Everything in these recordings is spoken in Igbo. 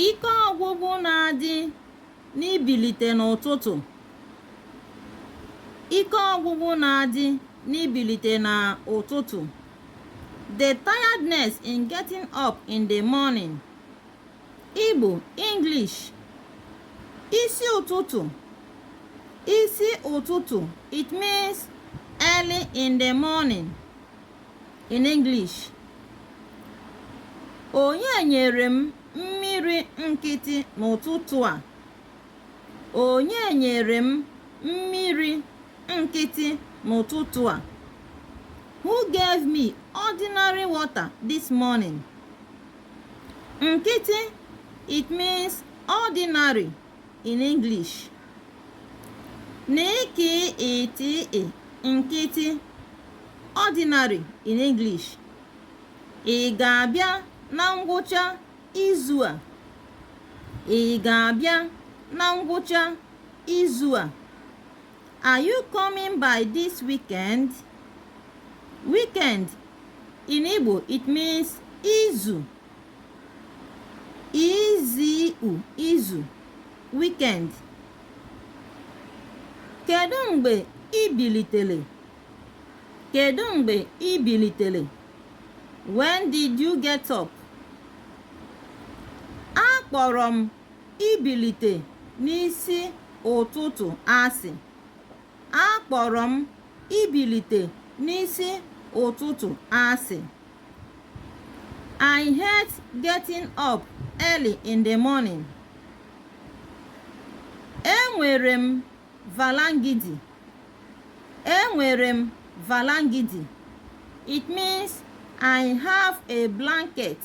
ike ọgwụgwụ na-adị n'ibilite n'ụtụtụ ike ọgwụgwụ na-adị n'ibilite n'ụtụtụ the tiredness in getting up in the morning Igbo English isi ụtụtụ isi ụtụtụ it means early in the morning in English onye nyere m mmiri nkịtị n'ụtụtụ a onye nyere m mmiri nkịtị n'ụtụtụ a who gave me ordinary water this morning nkịtị it means ordinary in English n k ị t ị nkịtị ordinary in English ị ga-abịa na ngwụcha izu a ị ga-abịa na ngwụcha izu a are you coming by this weekend weekend in Igbo it means izu i z u izu weekend kedu mgbe i bilitere kedu mgbe i bilitere when did you get up akpọrọ m ibilite n'isi ụtụtụ asị akpọrọ m ibilite n'isi ụtụtụ asị I hate getting up early in the morning. Enwere m valangidi. Enwere m valangidi. It means I have a blanket.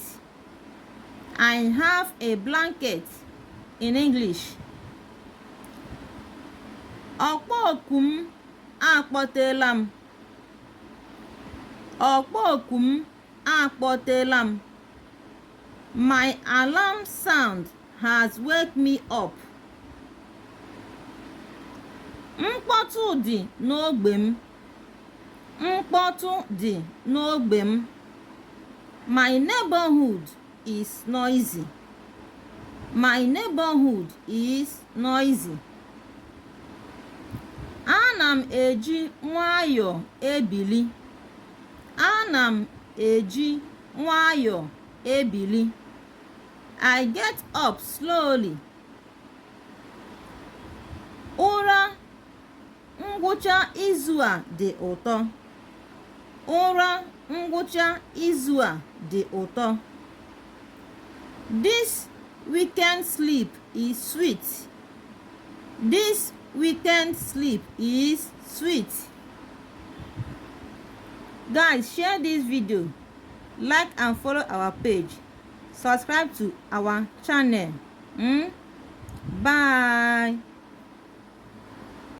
I have a blanket in English. ọkpọ oku m akpọtela m ọkpọ oku m akpọtela m my alarm sound has wake me up mkpọtụ dị n'ogbe m mkpọtụ dị n'ogbe m my neighborhood is noisy. My neighborhood is noisy. Ana m eji nwayọọ ebili. Ana m eji nwayọọ ebili. I get up slowly. Ụra Ngwụcha izu a dị ụtọ. Ụra ngwụcha izu a dị ụtọ. This weekend sleep is sweet. This weekend sleep is sweet. Guys, share this video, like and follow our page, subscribe to our channel. Mm? Bye.